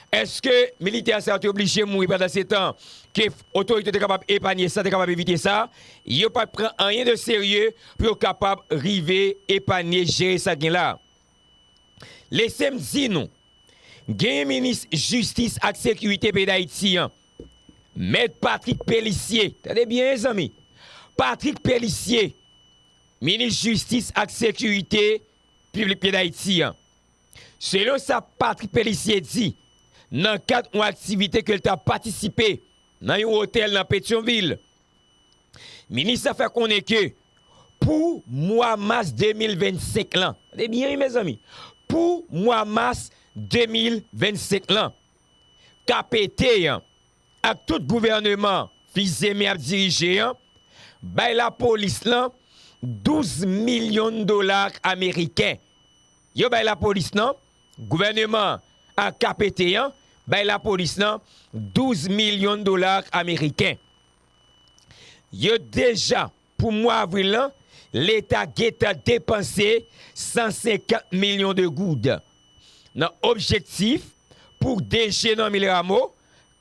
Eske militè sa yo te oblije mouri pandansetan ke otorite yo te kapab epanye sa, te kapab evite sa? Yo pa t pran anyen de serye pou yo kapab rive epanye, jere sa gen la. Lese m di nou, genyen minis jistis ak sekirite peyi Dayiti an, Mèt Patrick Pélissier, tande byen e zanmi, Patrick Pélissier, minis jistis ak sekirite piblik peyi Dayiti an, Selon sa Patrick Pélissier di nan kad yon aktivite ke l ta patisipe nan yon otèl nan Petyonvil, minis la fè konnen ke pou mwa mas 2025 lan, tande byen wi mezanmi, pou mwa mas 2025 lan, KPT an ak tout gouvèneman Fils-Aimé ap dirije an bay lapolis lan 12 milyon dola ameriken. Yo bay lapolis nan, gouvèneman an ak KPT an bay lapolis nan 12 milyon dolar ameriken. Yo deja, pou mwa avril lan, leta gentan depanse 150 milyon de goud nan objektif pou DG Normil Rameau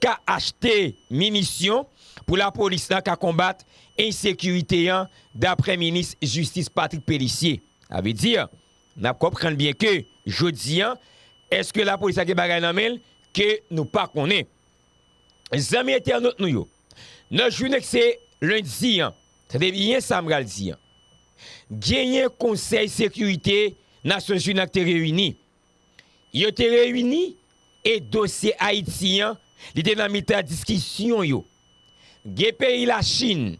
ka achte minisyon pou lapolis lan ka konbat ensekirite an, daprè minis jistis Patrick Pélissier. Sa vle di, N ap konprann byen ke jodi an, èske lapolis la gen bagay nan men l ke nou pa konnen? Zanmi entènot nou yo, nan jounen k se lendi an, tande byen sa m pral di an, genyen konsèy sekirite Nasyonzini an k te reyini. Yo te reyini e dosye Ayiti an, li te nan mitan diskisyon yo. Gen peyi Lachin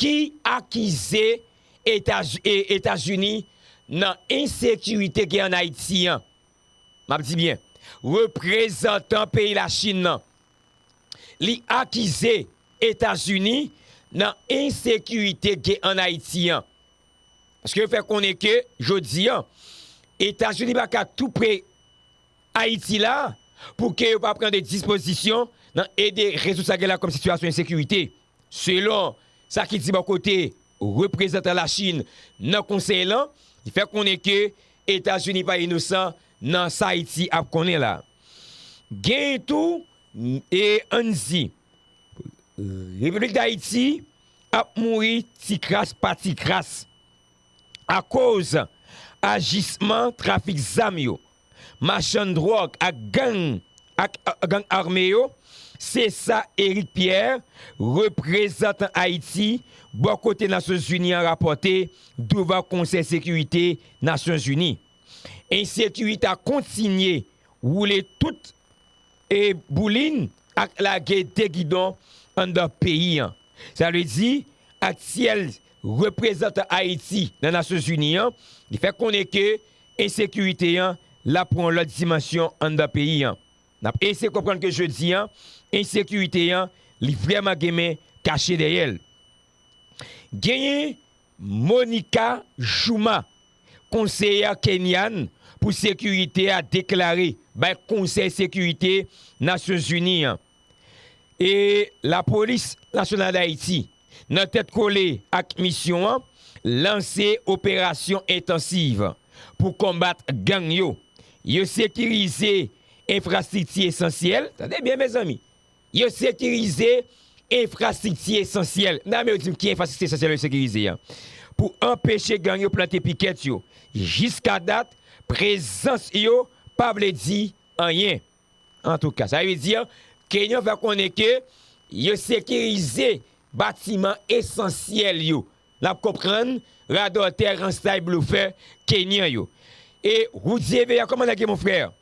ki akize Etazini nan ensekirite gen an Ayiti an, m ap di byen, reprezantan peyi Lachin nan, li akize Etazini nan ensekirite gen an Ayiti an. Paske yo fè konnen ke jodi an, Etazini pa ka tou pre Ayiti la pou ke yo pa pran de dispozisyon nan ede rezoud sa gen la kòm sitiyasyon ensekirite. Selon sa ki di bò kote reprezantan Lachin nan konsèy lan, li fè konnen ke Etazini pa inosan nan sa Ayiti ap konnen la. Genyen tou e ann di Repiblik Dayiti ap mouri ti kras pa ti kras akoz ajisman trafik zam yo. machann dròg ak gang ak gang ame yo, se sa Eric Pierre, reprezantan Ayiti bò kote Nasyonzini an rapòte douvan Konsèy Sekirite Nasyonzini. Ensekirite a kontinye woule tout. E boulin ak lage de gidon anndan peyi an. Sa vle di, aktyèl reprezantan Ayiti nan Nasyon Zini an, li fè konnen ke ensekirite an la pran yon lòt dimansyon anndan peyi an. N ap eseye konprann ke jodi an, ensekirite an li vrèman gen men kache dèyè l. Genyen Monica Juma, konseyè kenyan pou sekirite a deklare bay Konsèy Sekirite Nasyonzini an e Lapolis Nasyonal Dayiti nan tèt kole ak misyon an lanse operasyon entansiv pou konbat gang yo. Yo sekirize enfrastrikti esansyèl, tande byen mezanmi! Yo sekirize enfrastrikti esansyèl. Nan men yo di m ki enfrastrikti esansyèl yo sekirize an. Pou anpeche gang yo plante pikèt yo. Jiska dat, prezans yo pa vle di anyen. Antouka, sa vle di Kenyon fè konnen ke yo sekirize batiman esansyèl yo. N ap konprann radòtè, ranstay, blofè Kenyan yo. E Roudy Evea, kòman nèg yo mon frère?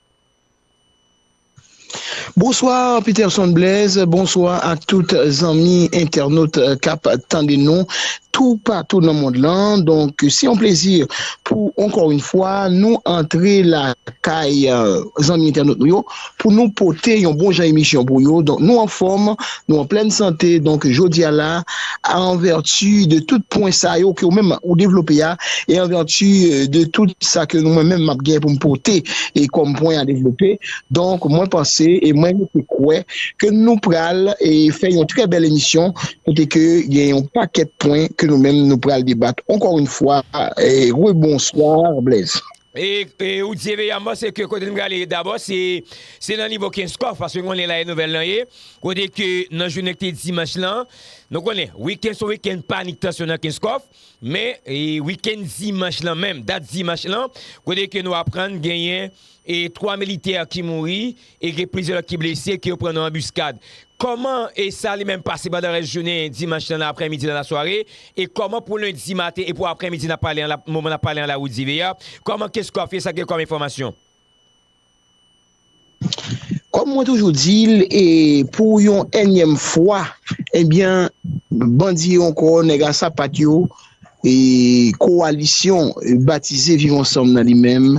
Bonsoir Peterson Blaise, bonsoir ak tout zanmi entènot kap tande nou tou patou nan mond lan, donk se yon plezi pou ankò yon fwa nou antre lakay zanmi entènot nou yo pou nou pote yon bon jan emisyon pou yo, donk nou anfòm. Nou an plèn sante, donk jodi a la, an vèti de tout pwen sa yo ke ou menm ou devlope a, e an vèti de tout sa ke mwen menm m ap gen pou m pote e kòm pwen a devlope, donk mwen panse e mwen rete kwè ke nou pral e fè yon trè bèl emisyon kote ke gen yon pakèt pwen ke nou menm nou pral debat. Ankò yn fwa, rebonswa Blaise. E ou di eve yanman se ke kote n prale dabò se nan nivo kenskòf paske nou konnen la e nouvèl lan ye kote ke nan jounen ki te dimanch lan nou konnen wikenn son wikenn panik tansyon nan kenskòf men wikenn dimanch lan menm dat dimanch lan kote ke nou aprann genyen 3 militè ki mouri E gen plizyè lòt ki blese ke yo pran nan anbiskad. Kòman e sa li menm pase pandan rès jounen dimanch lan nan aprè midi nan lasware? E kòman pou lendi maten e pou aprè midi nan pale an la moman nap pale an la Rudy Veer? Kòman kes kò ap file sa gen kòm enfòmasyon? Kòm mwen toujou di l e pou yon ènyèm fwa ebyen bandi yo ankò nèg a sapat yo e kowalisyon batize viv ansanm nan li menm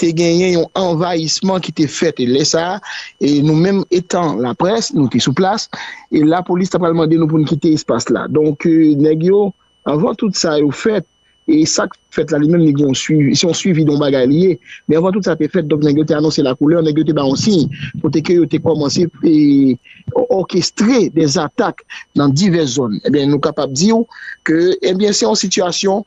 te genyen yon anvayisman ki te fèt e lè sa a nou menm etan laprès nou te sou plas e lapolis ta pral mande nou pou nou kite espas la donk nèg yo anvan tout sa yo fèt e sa k fèt la li menm li gen yon swivi se yon swivi de yon bagay li ye men anvan tout sa te fèt donk nèg yo te anonse lakoulè nèg yo te ba yon siy kote ke yo te kòmanse òkestre de zatak nan divès zòn e byen nou kapab di ou ke e byen se yon sitiyasyon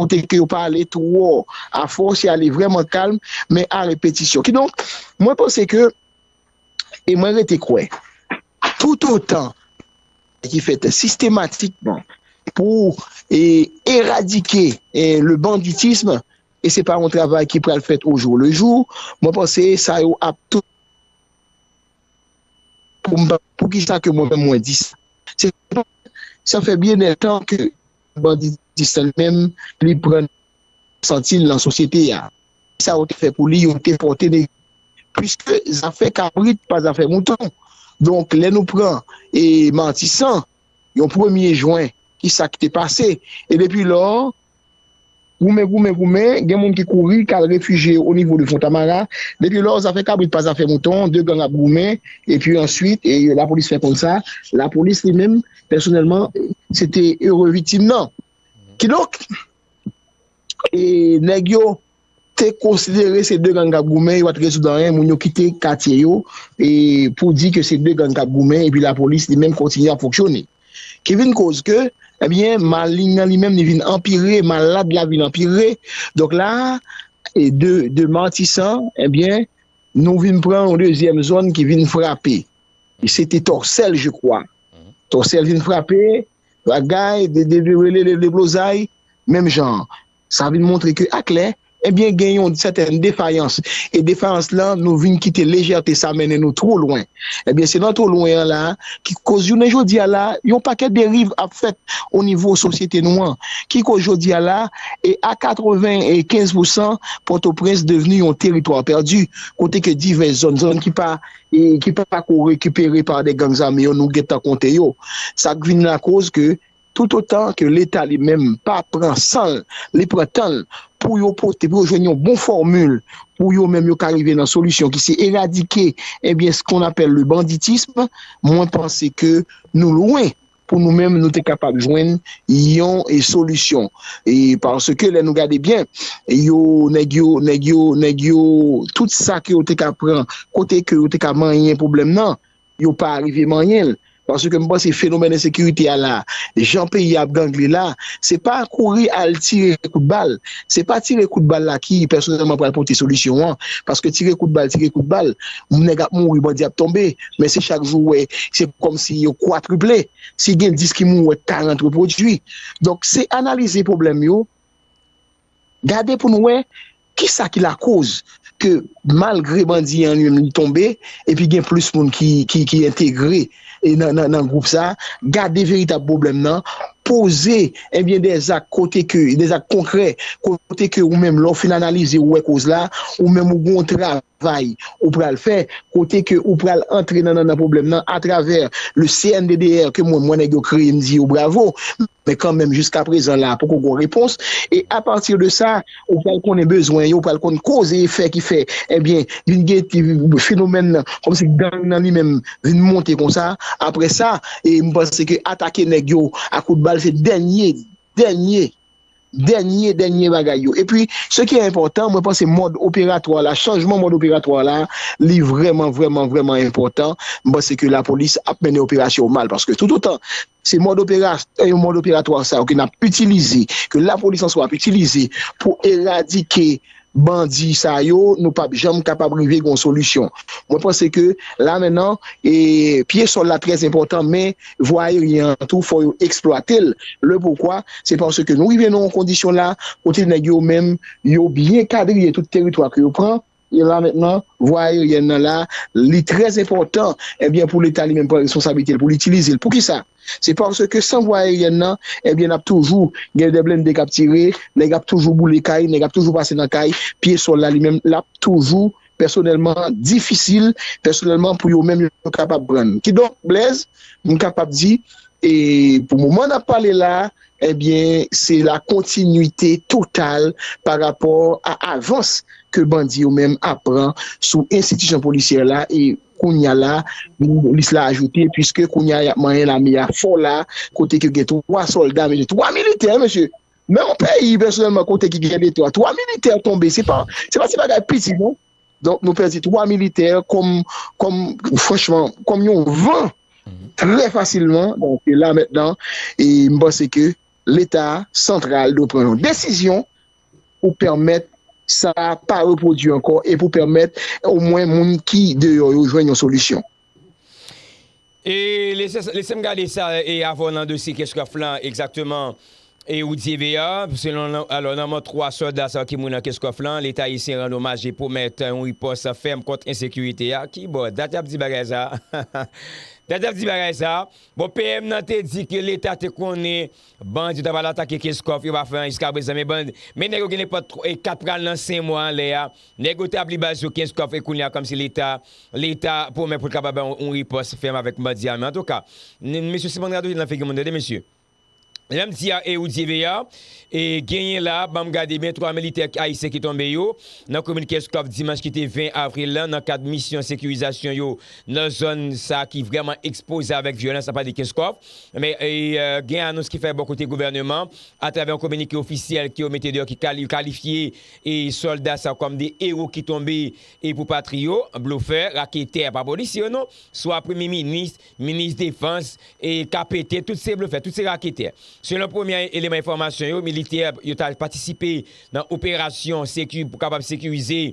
Ou te ke yo pa ale twò a fò, se ale vrèman kalm, men a repetisyon. Kidonk, mwen panse ke, e mwen rete kwè, toutotan ki fèt sistematikman pou eradike le banditisme, e se pa yon travay ki pral fèt o jou le jou, mwen panse sa yo ap tou. Pou ki sa ke mwen menm mwen di sa? Se ke sa fè byen lètan ke. banditism menm li pran santil nan sosyete a kisa yo te fè pou li yo te pòte nèg pwiske zafè kabrit pa zafè mouton donk lè nou pran e matisan yon premye jwen kisa ki te pase e depi lò. Goumen, goumen, goumen, gen moun ki kouri kal refijye yo onivo de Fontamara. Depi lò, zafè kabrit pa zafè mouton, 2 gang ap goumen, epi answit, lapolis fè konn sa, lapolis li menm, pèsonèlman, se te ere viktim nan. Kidonk, nèg yo te konsidere se 2 gang kap goumen, yo pa t rezoud anyen, moun yo kite katye yo, pou di ke se 2 gang kap goumen, epi lapolis li menm kontinye ap fonksyone. Ki vin koz ke, ebyen maling nan li menm li vin anpire, malad la vin anpire. Donk la, de Martissant, ebyen, nou vin pran yon dezyèm zòn ki vin frape. Se te Tòsèl je kwa. Tòsèl vin frape, bagay, de Deblozay, menm jan an. Sa vin montre ke aklè, ebyen gen yon sèten defayans, e defayans la nou vin kite lejète sa mennen nou two lwen. Ebyen se nan two lwen an la ki koz jounen jodi a la yon pakèt deriv ap fèt o nivo sosyete nou an, ki koz jodi a la e a 95 pou 100 Pòtoprens devni yon teritwa pèdi, kote ke divès zòn, zòn ki pa ki pa ko rekipere pa de gangs ame yo nou gentan konte yo. Sa k vin lakoz ke Toutotan ke leta li menm pa pran san l, li pran tan l pou yo pote, pou yo jwenn yon bon fòmil pou yo menm yo ka rive nan solisyon ki se eradike ebyen se kon apèl le banditisme, mwen panse ke nou lwen pou nou menm nou te kapab jwenn yon solisyon. Paske lè nou gade byen yo nèg yo, nèg yo, nèg yo tout sa ke yo te ka pran kote ke yo te ka manyen pwoblèm nan. yo pa arive manyen l, paske m panse fenomèn ensekirite a la, jan peyi a ap gangle la, se pa kouri al tire kout bal, se pa tire kout bal la ki pèsonèlman pral pote solisyon an, paske tire kout bal, tire kout bal, nèg ap mouri, bandi ap tonbe, men se chak jou ou wè, se kòm si yo kwatriple, si gen 10 ki mouri ou wè 40 repwodui. Donk se analize pwoblèm yo. Gade pou n wè kisa ki lakoz ke malgre bandi an li menm li tonbe epi gen plis moun ki entegre nan gwoup sa a. Gade veritab pwoblèm nan. Poze ebyen de zak kote ke, de zak konkrè kote ke ou menm lè w fin analize ou wè koz la, ou menm ou gen yon travay. travay ou pral fè kote ke ou pral antre nan nannan pwoblèm nan atravè le CNDDR ke mwen m wè nèg yo kreye m di yo bravo men kanmenm jiska prezan la poko gon repons e a pati de sa ou pral konnen bezwen yo ou pral konn koz e efè ki fè ebyen vin gen fenomèn nan kòm si gang nan li menm vin monte konsa aprè sa e m panse ke atake nèg yo a kout bal se dènye dènye dènye dènye bagay yo. Epi, se ki enpòtan, mwen panse mòd operatwa la, chanjman mòd operatwa la, li vrèman, vrèman, vrèman enpòtan. M panse ke lapolis ap mennen operasyon yo mal, paske toutotan se mòd operasyon, mòd operatwa sa yo ke n ap itilize, ke lapolis an swa ap itilize pou eradike bandi sa yo nou pap janm kapab rive gon solisyon mwen panse ke la mennan e pye sòl la trè enpòtan men vwa ayeryen an tou fò yo eksplwatel le poukwa se panse ke nou rive nan yon kondisyon la kote nèg yo menm yo byen kadriye tout teritwa ke yo pran e la mennan vwa ayeryen nan la li trè enpòtan ebyen pou leta li menm pran responsablitel poul itilizel poukisa. Se paske san vwa aeryèn nan, ebyen n ap toujou gen de blende k ap tire, nèg ap toujou boule kay, nèg ap toujou pase nan kay, pye sòl la li menm l ap toujou pèsonèlman difisil pèsonèlman pou yo menm yo kapab pran n. Kidonk Blèz, m kapab di e pou moman n ap pale la a, ebyen se la kontinite total pa rapò a avans ke bandi yo menm ap pran sou enstitisyon polisyè la e Kounya la, lis la ajoute, puiske kounya y ap manyen lame a fò la, kote ke gen 3 sòlda, mesye, 3 militè, mesye! Men yon peyi, pèsonèlman, kote ki gen deto a, 3 militè tonbe, se pa ti bagay piti non! Donk, nou pèdi 3 militè kòm, kòm, franchman, kòm yon van, trè fasilman, donk, e la mètnan, e m panse ke Leta santral dwe pran yon desizyon, pou pèmèt sa pa repwodui ankò e pou pèmèt o mwen moun ki deyò yo jwenn yon solisyon. E lese m gade sa e avan w nan dosye Kescraft la egzakteman e ou di ve a selon alò nan mò 3 sòlda sa yo ki mouri nan Kescraft la leta ayisyen rann omaj e pwomèt yon ripòs fèm kont ensekirite a ki bò dat y ap di bagay sa a dat y ap di bagay sa a bon PM nan te di ke leta te konnen Bandi yo ta pral atake Kenscoff yo pa fè anyen jiska prezan men bandi men nèg yo gen nenpòt 4 pral nan 5 mwa anlè a nèg yo tabli baz yo Kenscoff e kounya kòmsi leta leta pwomèt poul kapab bay yon ripòs fèm avèk bandi ame antouka mesye siman radote nan figi moun tande mesye lèm di a e ou di eve a e genyen la banm gade byen 3 militè ayisyen ki tonbe yo nan komin Kenscoff dimanch ki te 20 avril lan nan kad misyon sekirizasyon yo nan zòn sa ki vrèman ekspoze avèk vyolans nan pale de Kenscoff. Gen anons ki fè bò kote gouvèneman atravè yon kominike ofisyèl ke yo mete deyò ki kalifye sòlda sa kòm de ewo ki tonbe pou patri yo, blofè, raketè, pa polisye yo non, swa premye minis, minis defans, KPT, tout se blofè, tout se raketè. Selon premye eleman enfòmasyon yo, militè yo ta patisipe nan operasyon pou kapab sekirize.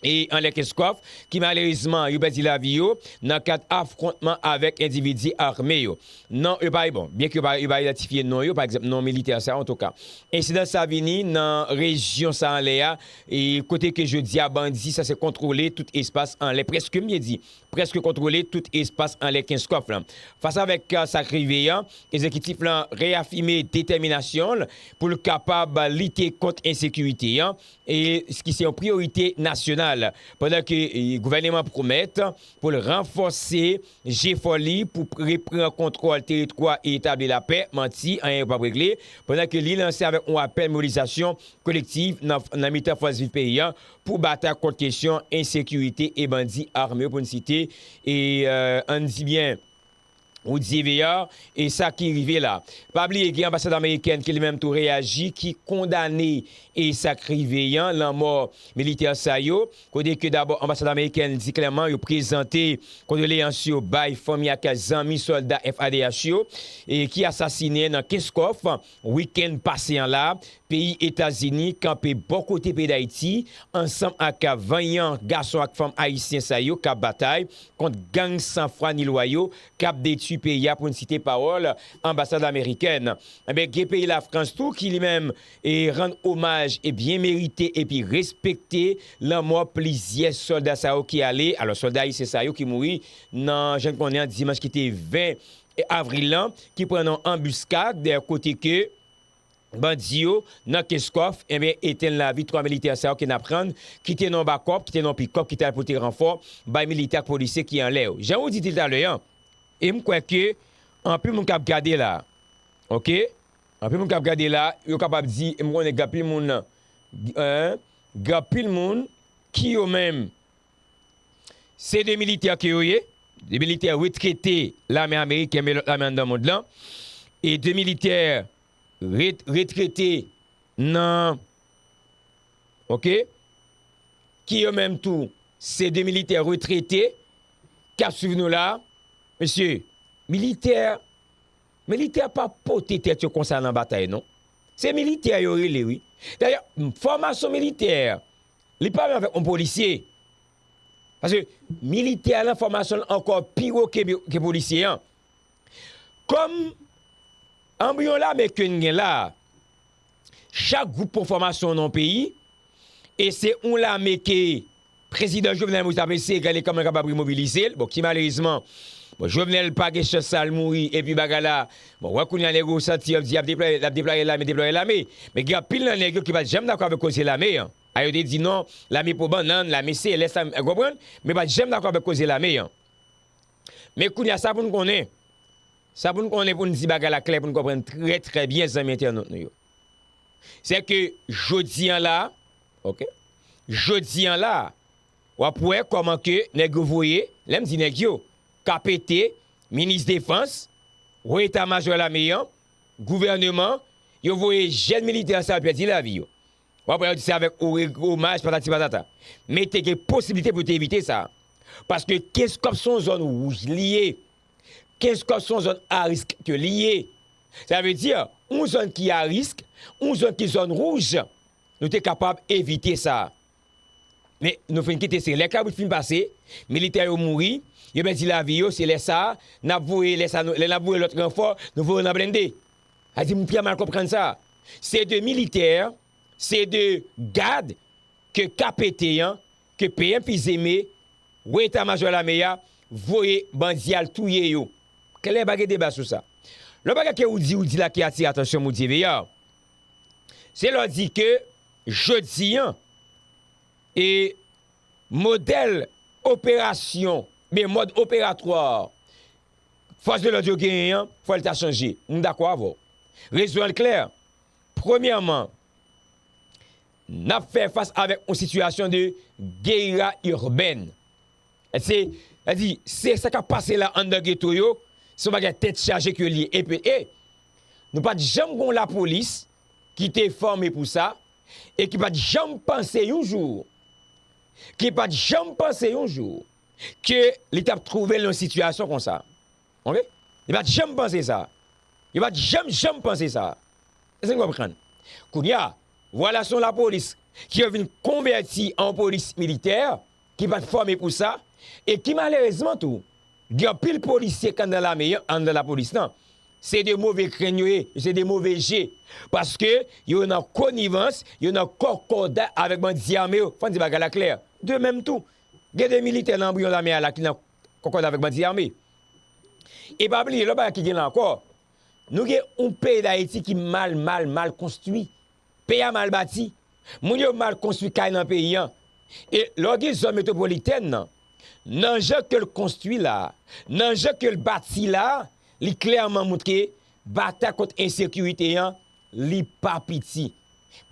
e Anlè Kenskòf ki malerezman yo pèdi lavi yo nan kad afwontman avèk endividi arme yo. Non yo pa repon, byen ke yo pa idantifye non yo, pa egzanp non militè sa antouka. Ensidan sa vini nan rejyon sa anlè a e kote ke jodi a bandi sa se kontwole tout espas anlè prèske m byen di, prèske kontwole tout espas anlè Kenskòf lan. Fas avèk sa k rive an, Egzekitif lan reyafime detèminasyon l pou l kapab lite kont ensekirite an, e ki se yon priyorite nasyonal, pandan ke gouvèneman an pwomèt pou l ranfòse jefò li pou repran kontwòl teritwa e etabli lapè, manti, anyen yo p ap regle, pandan ke li lanse avèk yon apèl mobilizasyon kolektiv nan mitan fòs viv peyi an pou batay kont kesyon ensekirite e bandi ame yo pou n site, e an n di byen Rudy Veillard, e sa ki rive la. Pa bliye gen anbasad amerikèn ki li menm tou reyaji ki kondane e sa k rive yan, lanmò militè sa yo, kote ke dabò anbasad amerikèn di klèman yo prezante kondoleyans yo bay fanmi ak zanmi sòlda FADH yo e ki asasinen nan Kenskòf. Wikenn pase an la, peyi Etazini kanpe bò kote peyi Dayiti ansanm ak vanyan gason ak fanm ayisyen sa yo kap batay kont gang san fwa ni lwa yo kap detui peyi a pou n site pawòl anbasad amerikèn. Enben gen peyi Lafrans tou ki li menm rann omaj byen merite epi respekte lanmò plizyè sòlda sa yo ki ale alò sòlda ayisyen sa yo ki mouri nan jan n konnen an dimanch ki te 20 avril lan ki pran nan anbuskad kote ke bandi yo nan Kenskòf enben etenn lavi 3 militè sa yo ke n aprann ki te nan yon bakòp, ki te nan yon pikòp ki t al pote ranfò bay militè ak polisye ki anlè yo. Jan ou di di talè an e m kwè ke anpil moun k ap gade la ok anpil moun k ap gade la yo kapab di e m konnen gen anpil moun gen anpil moun ki yo menm Se 2 militè ke yo ye, 2 militè retrete lame ameriken men lòt lame anndan mond lan, e 2 militè retrete nan ok, ki yo menm tou se 2 militè retrete k ap swiv nou la, mesye militè, militè pa pote tèt yo konsa nan batay non, se militè yo rele wi, dayè fòmasyon militè. Li pale avèk yon polisye. Paske militè a lan fòmasyon l ankò pi wo ke polisye an. Kòm anbryon lame ke n gen la a, chak gwoup pran fòmasyon nan yon peyi, e se yon lame ke prezidan Jovenel Moïse t ap eseye gade kòman l kapab remobilize l, bon ki malerezman, bon Jovenel pa gen chans sa l mouri epi bagay la Bon, wè kounya nèg yo santi yo di y'ap deplwaye, l'ap deplwaye lame, deplwaye lame. Men gen anpil nan nèg yo ki pat janm dakò avèk koze lame an. A yo te di non, lame po bannann, lame se, lè sa, ou konprann? Men pat janm dakò avèk koze lame an. Men kounya sa pou nou konnen, sa pou nou konnen pou nou di bagay la klè pou nou konprann trè trè byen zanmi entènot nou yo. Se ke jodi an la, ok, jodi an la, w'ap wè kòman ke nèg yo voye, lè m di nèg yo, KPT, Minis Defans, Wo Eta Majò Lame an, Gouvèneman, yo voye jèn militè sa yo pèdi lavi yo. W ap wè yo di se avèk omaj patati patata. Men te gen posiblite pou yo te evite sa. Paske Kenskòf se yon zòn wouj li ye. Kenskòf se yon zòn arisk ke li ye. Sa vle di, yon zòn ki arisk, yon zòn ki zòn wouj, nou te kapab evite sa. Men, nou fin kite se lè kabrit fin pase, militè yo mouri, yo pèdi lavi yo, se lè sa a, n ap voye, lè sa a, lè n ap voye lòt ranfò, nou voye yo nan blende. A di, m fè mal konprann sa. Se de militè, se de gad ke KPT an, ke PM Fils-Aimé, Wo Eta Majò Lame a, voye bandi al touye yo. Klè, pa gen deba sou sa. Lòt bagay ke ou di, ou di la ki atire atansyon m, ou di, Veyar, Se lè w di ke jodi an, e modèl operasyon, men mòd operatwa fòs de lòd yo genyen an, fò l ta chanje. M dakò avè w. Rezon an klè, premyèman, n ap fè fas avèk yon sitiyasyon de geyira irbèn. Se, sa di, se sa kap pase la anndan geto yo, se yon bagay tèt chaje ke li ye. Epi e, nou pa t janm gen yon lapolis ki te fòme pou sa, e ki pa t janm panse yon jou, ki pa t janm panse yon jou, ke li t ap twouve l nan yon sitiyasyon konsa. Ok? Li pa t janm panse sa. Yo pa t janm, janm panse sa. Èske nou konprann? Kounye a, vwala se yon lapolis ki yo vin konvèti an yon polis militè, ki pat fòme pou sa e ki malerezman tou gen anpil polisye k anndan lame an, anndan lapolis lan, se de move krenn yo ye, yo se de move je, paske yo nan konivans, yo nan kòkòday avèk bandi ame yo, fò n di bagay la klè. De menm tou, gen de militè nan anbriyon lame a la ki nan kòkòday avèk bandi ame. E pa bliye lòt bagay ki gen la ankò, nou gen yon peyi Dayiti ki mal mal mal konstwi, Peyi a mal bati, moun yo mal konstwi kay nan peyi an. E lè w gen zòn metwopolitèn nan, nan jan ke l konstwi la a, nan jan ke l bati la a, li klèman mount ke batay kont ensekirite an, li pa piti.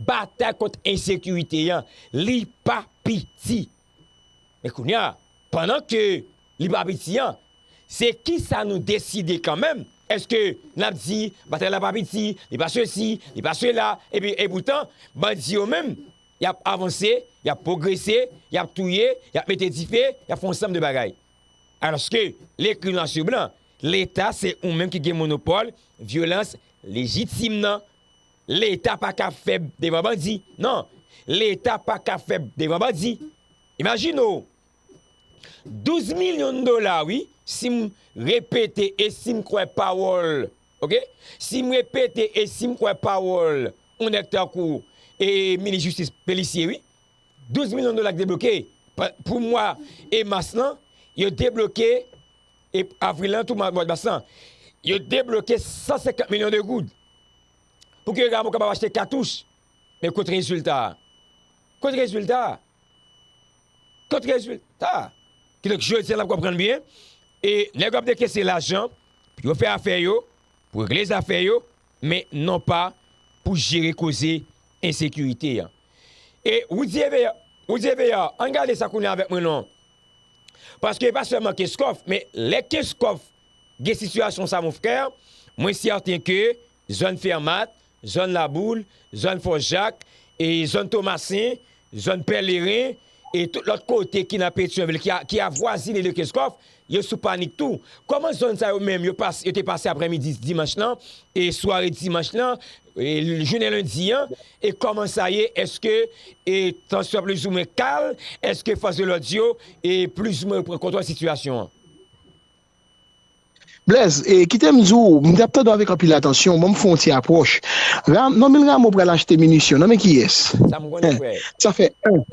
Batay kont ensekirite an, li pa piti. Men kounye a, pandan ke li pa piti an, se kisa nou deside kanmenm, èske nap di batay la pa piti, li pa sesi, li pa sela, epi epoutan bandi yo menm yap avanse, yap pwogrese, yap touye, yap mete dife, yap fè yon sanm de bagay. Alòske lekri nwa sou blan, leta se ou menm ki gen monopòl vyolans lejitim nan. Leta pa ka fèb devan bandi nan, Leta pa ka fèb devan bandi. Imajine w, 12 milyon dola wi, si m repete e si m kwè pawòl, ok, si m repete e si m kwè pawòl yon nèg tankou e Minis Jistis Pélissier wi, 12 milyon dola ki debloke pou mwa e mas lan, yo debloke e avril lan tou mwa mas lan, yo debloke 150 milyon de goud. Pou ke Rameau kapab achte katouch. Men kot rezilta a? Kot rezilta a? Kot rezilta a? Ki donk jodi a n ap konprann byen, e nèg yo ap dekese lajan pou yo fè afè yo, pou regle zafè yo, men non pa pou jere koze ensekirite an. E Roudy Evear, Roudy Evear, an n gade sa kounye a avèk mwen non. Paske e pa sèlman Kenskòf, men lè Kenskòf gen sitiyasyon sa mon frè, mwen sèten ke zòn Fermat, zòn Laboul, zòn Fò Jak, e zòn Tomasen, zòn Pèleren, e tout lòt kote ki nan Petyonvil ki avwazine de Kenscoff, yo sou panik tou. Kòman zòn sa yo menm yo te pase aprèmidi dimanch lan, e sware dimanch lan, e jounen lendi an, e kòman sa ye, èske tansyon an plizoumwen kal, èske fòs de lòd yo, e plizoumwen yo pran kontwòl sitiyasyon an? Blaise, e kite m di w, m t ap tande w avèk anpil atansyon, ban m fè yon ti apwòch. Ra, Normil Rameau pral achte minisyon, nan men kiyès? Sa m konnen, frè. Sa fè 1.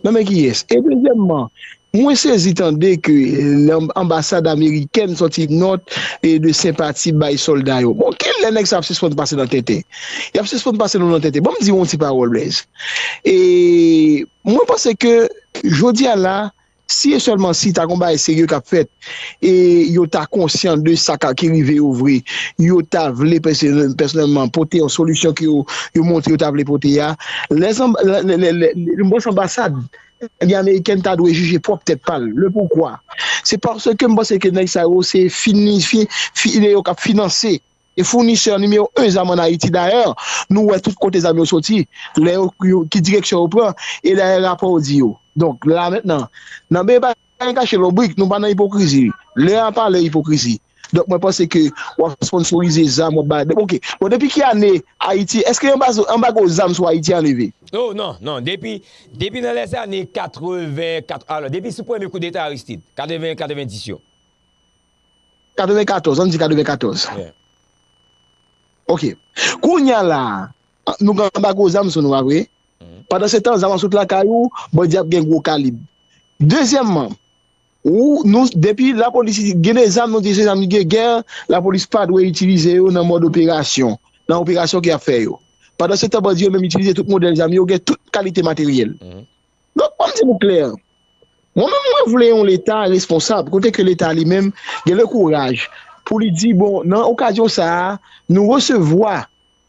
Nan men kiyès? E dezyèmman, mwen sezi tande ke anbasad amerikèn sòti nòt de senpati bay sòlda yo. Bon, ki lè nèg sa yo ap sispann pase nan tenten? Y ap sispann pase nou nan tenten. Ban m di w yon ti pawòl, Blaise. E mwen panse ke jodi a la, Si e sèlman si ta gon bagay serye k ap fèt e yo ta konsyan de sa ka ki rive yo vre, yo ta vle pèsonèlman pote yon solisyon ke yo yo montre yo ta vle pote a. Lè san lè m panse anbasad ebyen amerikèn ta dwe jije pwòp tèt pa l. Le poukwa? Se paske m panse ke nèg sa yo se fini fi fi e yo k ap finanse. e founisè nimewo 1 zam an Ayiti dayè nou wè tout kote zam yo soti lè yo ki direksyon yo pran e dayè rapò di yo donk la mentnan nan byen pa gen kache lonbrik nou pa nan ipokrizi lè a pa lè ipokrizi donk mwen panse ke wap sponsorize zam wap bay ok bon depi ki ane Ayiti eske anbazo anbago zam sou Ayiti a leve? Oh non non depi depi nan lèzane 80 kat alò depi sou premye koudeta Aristide 80 90 yo. 94, an n di 94. Yeah. Ok. Kounya la, nou gen anba gwo zam sou nou a vre. Mhm. Pandan se tan, zam an sot lakay ou, bandi ap gen gwo kalib. Dezyèmman, ou nou depi la polis gen de zam nou di se zam de gè, la polis pa dwe itilize yo nan mòd operasyon, nan operasyon ke y ap fè yo. Pandan se tan, bandi yo menm itilize tout modèl zam yo, gen tout kalite materyèl. Mhm. Donk an m di nou klè, mwen menm mwen vle yon leta responsab kote ke leta li menm gen le kouraj pou li di bon nan okazyon sa a nou resevwa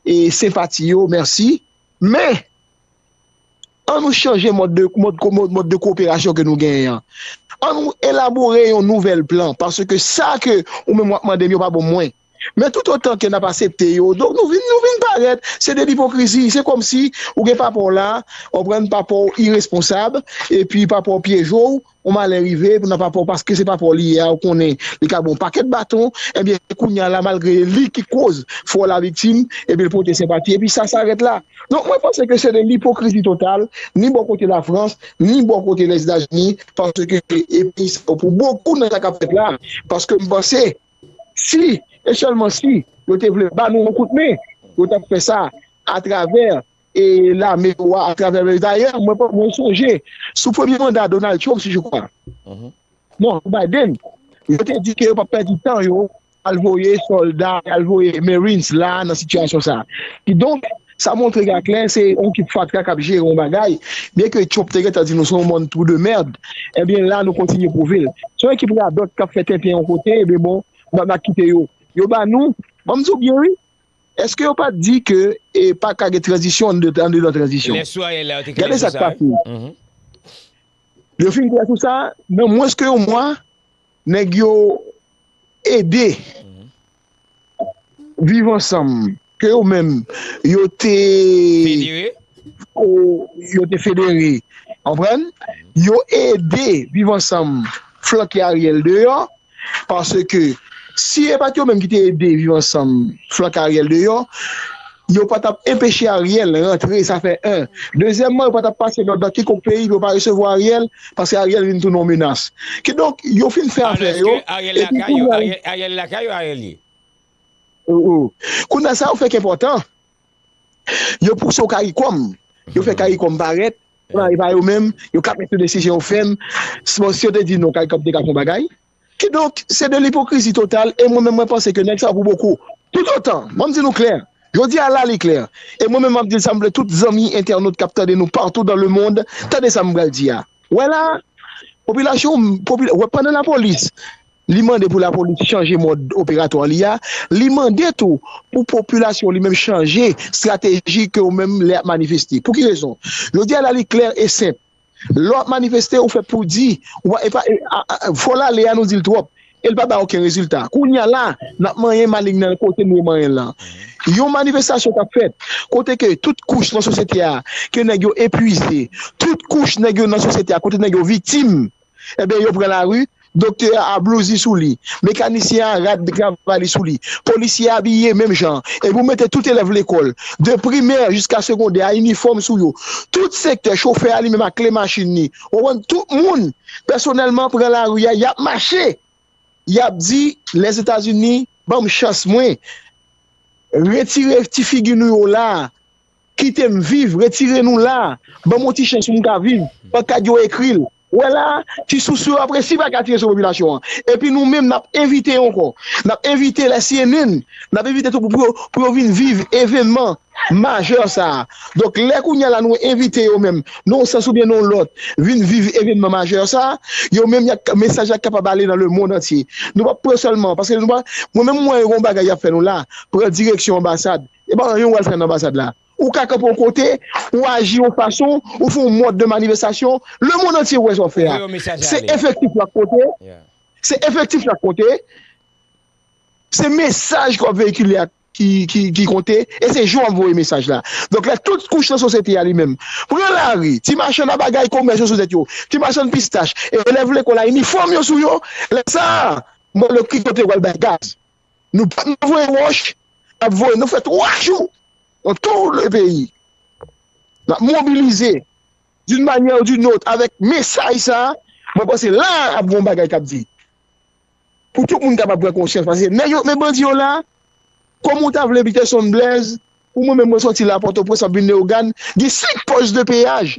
e senpati yo, mèsi, men an nou chanje mòd de mòd de koperasyon ke nou genyen an, an nou elabore yon nouvèl plan paske sa ke ou menm w ap mande m yo pa bon mwen. Men tout otan ke nap asepte yo, donk nou vin nou vin parèt se de lipokrizi, se kòmsi ou gen papa w la, ou konprann, papa w iresponsab, epi papa w pyeje w, yon malè rive nan papa w paske se papa w li ye a, ou konnen li ka ba w yon pakèt baton, ebyen kounya la malgre e li ki koz fè w laviktim, ebyen l pote senpati, epi sa sarèt la. Donk mwen panse ke se de lipokrizi total, ni bò kote Lafrans, ni bò kote Lèzetazini, paske e peyi sa yo pou bokou nan sa kap fèt la, paske m panse. Si, e sèlman si, yo te vle ba nou yon kout men, yo t ap fè sa atravè lame yo a, atravè lame yo a. Dayè, mwen sonje, sou premye manda Donald Trump, si je kwa, non, sou Biden, yo te di ke yo pa p pèdi tan yo al voye sòlda, al voye marines la nan sitiyasyon sa a. Kidonk, Sa montre gen aklè se yon kip fatra kap jere yon bagay, byen ke Trump te gentan di nou se yon mond trou de merd, ebyen la nou kontinye pwouve l. Se yon ekip radòt kap fè tenten yon kote, ebyen bon nou pa ka kite yo. Yo ba nou, banm di w byen wi, eske yo pat di ke e paka gen tranzisyon andedan tranzisyon. Lè sou Ariel la yo te klè sou sa wi. Yo fin klè sou sa, nan mwens ke yon mwa nèg yo ede. viv ansanm ke yo menm yo te federe, konprann, yo ede viv ansanm flanke Ariel deyò, paske si e pat yo menm ki te ede viv ansanm flanke Ariel deyò, Yo pa tap enpeche Ariel rantre sa fè 1, dezyèmman yo pa tap pase lòd nan kikonk peyi pou yo pa resevwa Ariel paske Ariel vin tounen yon menas. Kidonk yo fin fè afè yo epi kounya la. Ariel lakay yo Ariel ye. Kounya sa yo fè k enpòtan, yo pouse yon karikom, yo fè karikom parèt, epa yo menm yo kap mete desizyon fèm, bon si yo te di non karikom te ka fè yon bagay. Kidonk, se de lipokrizi total e mwen menm mwen panse ke nèg sa yo pou boko. Toutotan, mwen m di nou klè, jodi a la li klè, e mwen menm m ap di l sa m vle tout zanmi entènot k ap tande nou patou dan lemond tande sa m pral di a. Wè la a, popilasyon m, popi, wè pandan lapolis li mande pou lapolis chanje mòd operatwa li a, li mande tou pou popilasyon w li menm chanje strateji ke w menm lè y ap manifeste. Pou ki rezon? Jodi a la li klè e senp. Lè wap manifeste ou fè poudi ou pa epa fol ale a nou dil trop el pa bay oken rezilta kounya la nap manyen maling nan kote nou manyen lan yon manifestasyon kap fèt kote ke tout kouch nan sosyete a ke nèg yo epwize tout kouch nèg yo nan sosyete a kote nèg yo viktim ebyen yo pran lari Doktè a blouzi sou li, mekanisyen a rad travay li sou li, polisye a abiye menm jan an, epi ou mete tout elèv lekòl, de primè jiska segondè a inifòm sou yo, tout sektè, chofè a li menm ak kle machin li, ou konprann, tout moun pèsonèlman pran lari a, y ap mache, y ap di Lèzetazini ban m chans mwen, retire ti figi nou yo la a. Kite m viv, retire nou la a, ban m yon ti chans pou m ka viv, pankad yo ekri l. Ou wè la a, ti sousou yo ap resi pa ka tire sou popilasyon an. Epi nou menm n ap envite ankò, n ap envite lè cnn, n ap envite tout moun pou yo vin viv evènman majè sa a. Donk lè kounye a la nou envite yo menm nan yon sans oubyen nan yon lòt vin viv evènman majè sa a, yo menm y ap, mesaj la kapab ale nan lemond antye. Nou p ap pran sèlman, paske mwen menm m wè gen yon bagay y ap fè nou la a, pran direksyon anbasad, E pa anyen ou al fè nan anbasad la. Ou ka kanpe yon kote, ou aji yon fason, ou fè yon mòd de manifestasyon, le mond antye wè sa w fè a. Se efektif la k konte, se efektif la k konte, se mesaj ke w ap veyikile a ki konte e se jan w ap voye mesaj la. Donk lè tout kouch nan sosyete a li menm pran lari, ti machann a bagay, komès yo sou tèt yo, ti machann pistach, elèv lekòl a inifòm yo sou yo, lè sa a m pral wè ki kote yo pral bay gaz. Nou pa nan voye wòch, n ap voye, nou fè 3 jou nan tou le peyi. N ap mobilize d'une manyè ou d'une autre avèk mesaj sa a, mwen panse la a ap gen yon bagay k ap di. Pou tout moun kapab pran konsyans paske nèg yo men bandi yo la a, kòm ou ta vle Peterson Blaise, pou mwen menm mwen sòti la a Pòtoprens m ap vin Leyogàn, gen 5 pòs de peyaj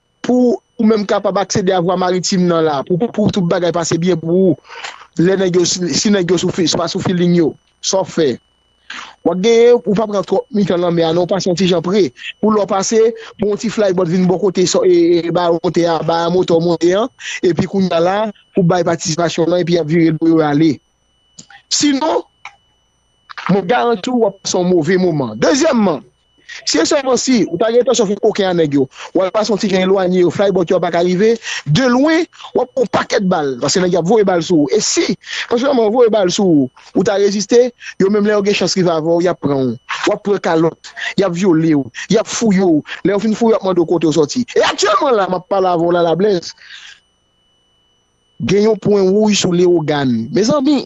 Pou ou menm kapab aksede a vwa maritim nan la, pou tout bagay pase byen pou ou, lè nèg yo, si nèg yo sou fil, pa sou filing yo, sa w fè? Wap genyen, ou pa pran twòp mitan lanmè a non, pase yon ti jan pre, pou lè w pase, pou yon ti flybòt vin bò kote baron tè a, baron motè w monte an, epi kounya la, pou bay patisipasyon w lan, epi yap vire do yo ale. Sinon, Mwen garanti w wap pase yon move moman. Dezyèmman, si e sèlman si, ou ta gen entansyon fè koken a nèg yo, ou al pase yon ti jan elwanye yo, fly bòt yo a pa ka rive, de lwen, wap pran yon pakèt bal, paske nèg yo ap voye bal sou ou. E si, pèsonèlman yo voye bal sou ou, ou ta reziste, yo menm lè yo gen chans rive avè w, yap pran w, wap pran kalòt, yap vyole w, yap fouye w, lè yo fin fouye w yap mande w kote w sòti. E aktyèlman la, map pale avè w la la Blaise, Gen yon pwen wouj sou Leogane. Mezanmi!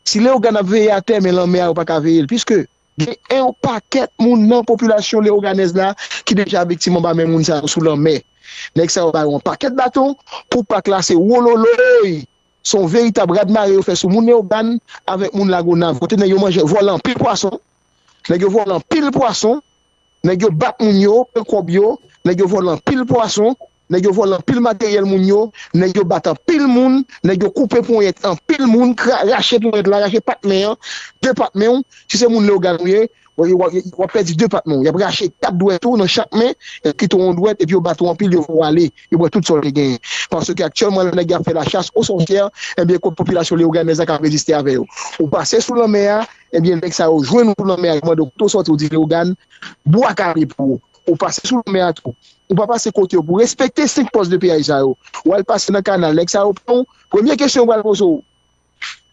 Si Leogane ap veye atè men lanmè a yo pa ka veye l piske gen yon pakèt moun nan popilasyon leoganèz la ki deja viktim anba men moun sa yo sou lanmè. Nèg sa yo ba yo yon pakèt baton pou pak la se wololoyy! Se yon veritab radmare yo fè sou moun Leogane avèk moun Lagonav kote nèg yo manje vòlè anpil pwason, nèg yo vòlè anpil pwason, nèg yo bat moun yo pran kòb yo, nèg yo vòlè anpil pwason, Nèg yo vòlè anpil materyèl moun yo, nèg yo bat anpil moun, nèg yo koupe ponyèt anpil moun, rache ponyèt la, rache pat men an, 2 pat men w, si se moun Leyogàn ou ye, w ap pèdi 2 pat men w, y ap rache 4 dwèt ou nan chak men, y ap kite w yon dwèt epi yo bat ou anpil, yo fè w ale, yo pran tout sa w te genyen. Paske aktyèlman la nèg yo ap fè la chasse aux sorcières, enben kot popilasyon Leyogannais la k ap reziste avè yo. Ou pase sou lanmè a, enben nèg sa yo jwenn ou sou lanmè a, yo mande w kote w sòti, ou di Leyogàn, bwa kale pou ou. ou pase sou lanmè a tou. Ou pa pase kote yo pou respekte 5 pòs de peyaj sa yo. Ou al pase nan kanal, nèg sa yo pran ou, premye kesyon yo pral poze w,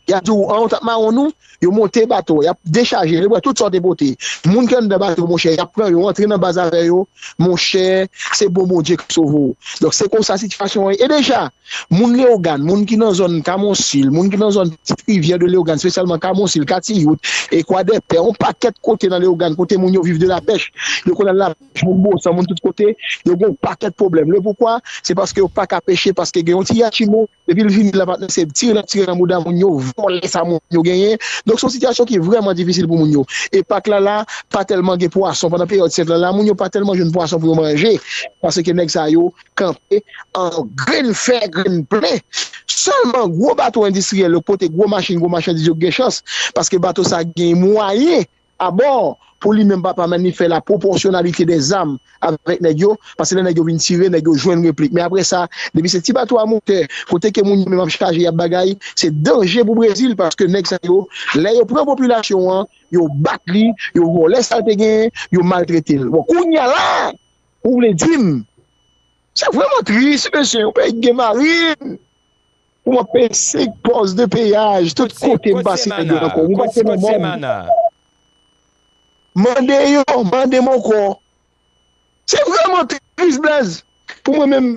y ap di w, an ou t ap mawon nou? Yo monte bato a, y ap dechaje, yo pran tout sa w te pote. Moun ki anndan bato monchè, y ap pran yo, antre nan baz avè yo, monchè, se bon Bondye k ap sove w. Donk se konsa sitiyasyon an ye. E deja! Moun Leyogàn, moun ki nan zòn Kamonsil, moun ki nan zòn Pitit Rivyè de Leyogàn, spesyalman Kamonsil, Katiyout, e Kwadèpè, yon pakèt kote nan Leyogàn kote moun yo viv de lapèch, yo konn al lapèch, moun Bosan, moun tout kote, yo gen yon pakèt pwoblèm. Lepoukwa? Se paske yo pa ka peche, paske gen yon ti yachimo, depi l vini la pa tnde se tire l ap tire nan bouda moun yo, vòlè sa moun yo genyen. Donk se yon sitiyasyon ki vrèman difisil pou moun yo. E pak la la, pa tèlman gen pwason, pandan peryòd sèt la la, moun yo pa tèlman jwenn pwason pou yo manje, paske nèg sa yo. kanpe an grenn fè, grenn plen. Sèlman, gwo bato endistriyèl yo, kote gwo machin, gwo machandiz yo gen chans, paske bato sa gen mwayen abò pou li menm papa men li fè la pwopòsyonalite dè zam avèk nèg yo, paske lè nèg yo vin tire, nèg yo jwenn replik. Men apre sa, depi se ti bato a motè, kote ke moun yo menm ap chaje, y ap bagay, se danje pou Brezil, paske nèg sa yo, lè yo pran popilasyon an, yo bat li, yo vòlè sa l te genyen, yo maltrete l. Bon, kounye a la, Ou vle dim sa vreman tris mesye yon peyi ki gen marin pou wap peye 5 pòs de peyaj tout kote m pase nèg yo nan kò m ou pa se nan mòn mande yo mande m ankò se vreman tris Blaze pou mwen menm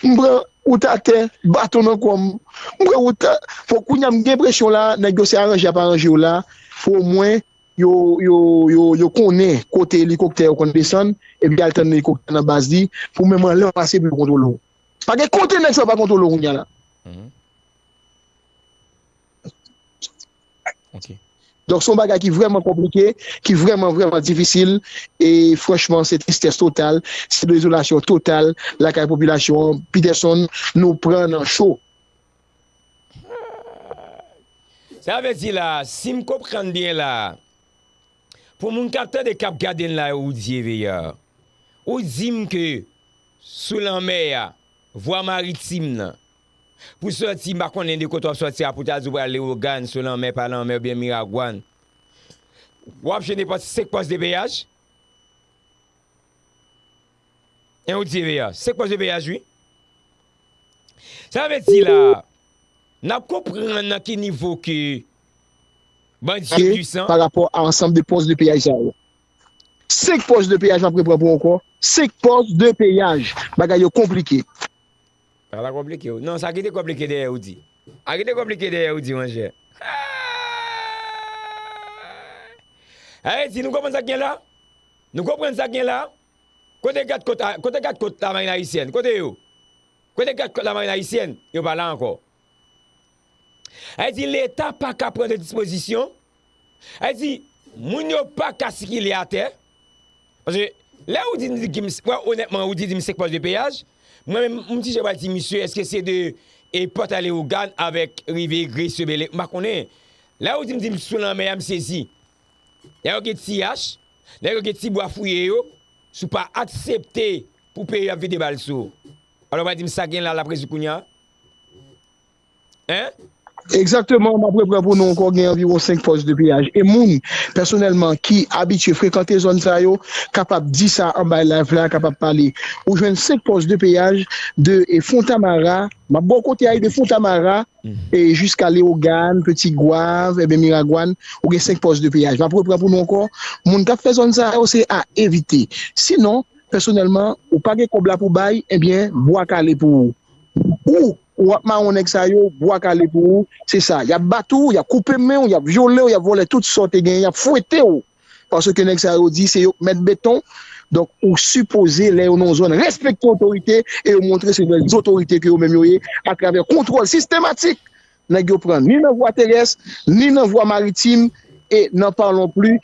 m pran wout atè baton nan kò m m pran wout fò kounya m gen enpresyon la nèg yo se aranje yap aranje yo la pou omwen yo konnen kote elikoptè yo konn desann epi al tann elikoptè nan baz li pou menm anlè w pase pou yo kontwole w. Pa gen kote nèg sa yo pa kontwole w kounya la. Donk se yon bagay ki vrèman konplike, ki vrèman vrèman difisil e franchman se tristès total, se dezolasyon total lakay popilasyon an. Peterson, nou pran nan cho. Sa vle di la, sim konprann byen la, pou moun kap tande kap gade n la yo ou di Eveya, ou dim ke sou lanmè a, vwa maritim nan, pou sòti m pa konnen de kote wap sòti a pou ta di w pral Lewogàn sou lanmè pa lanmè oubyen Miragwàn, wap jwenn nenpòt 5 pòs depeyaj? 1 ou di EVA, se k pòs EVA jwi. Sa vle di la, nan konprann nan ki nivo ke bandi yo pwisan. Pa rapò a ansanm de pòs de peyaj sa yo. 5 pòs de peyaj m ap repran pou ankò, 5 pòs de peyaj. Bagay yo konplike. Sa pa konplike w. Non, sa ki te konplike dèyè ou di. Sa ki te konplike dèyè ou di mon chè. Sa vle di nou konprann sa k gen la? Nou konprann sa k gen la? Kote gad kot a, kote gad kot la marine haïtienne, kote yo? Kote gad kot la marine haïtienne? Yo pa la ankò. Sa vle di leta pa ka pran de dispozisyon, sa vle di moun yo pa ka sikile atè, paske lè ou di m di m, mwen onètman ou di di m 5 pòs de peyaj, mwen menm m ti jan pral di misye eske se de e pòt a Leyogàn avèk rive Gresye, Bèlè, m pa konnen. Lè ou di m di m sou lanmè a m sezi. Lè yo gen ti ach, lè yo gen ti bwa fouye yo, si w pa aksepte pou peye yo ap vide bal sou ou. Alò va di m sa gen la lap rezoud kounya? Hein? Egzakteman, map repran pou nou ankò gen anviwon 5 pòs de peyaj e moun pèsonèlman ki abitye frekante zòn sa yo kapab di sa anba live la kapab pale. Ou jwenn 5 pòs de peyaj de Fontamara. Map baw konte a de fontamara e jiska leogane, petit goave ebyen miragwan ou gen 5 pòs de peyaj map repran pou nou ankò moun kap fè zòn sa yo se a evite si non pèsonèlman ou pa gen kòb la pou bay ebyen bwa kale pou ou ou ou ap mawon nèg sa yo bwa kale pou ou se sa yap bat ou yap koupe menw yap vyolew yap vòlè tout sa w te genyen yap fwetew Paske nèg sa yo di se yo k mèt beton, donk ou sipoze lè yo nan yon zòn respekte otorite e yo montre se vrè zotorite ke yo menm yo ye atravè kontwòl sistematik nèg yo pran ni nan vwa terès, ni nan vwa maritim e nan parlons plus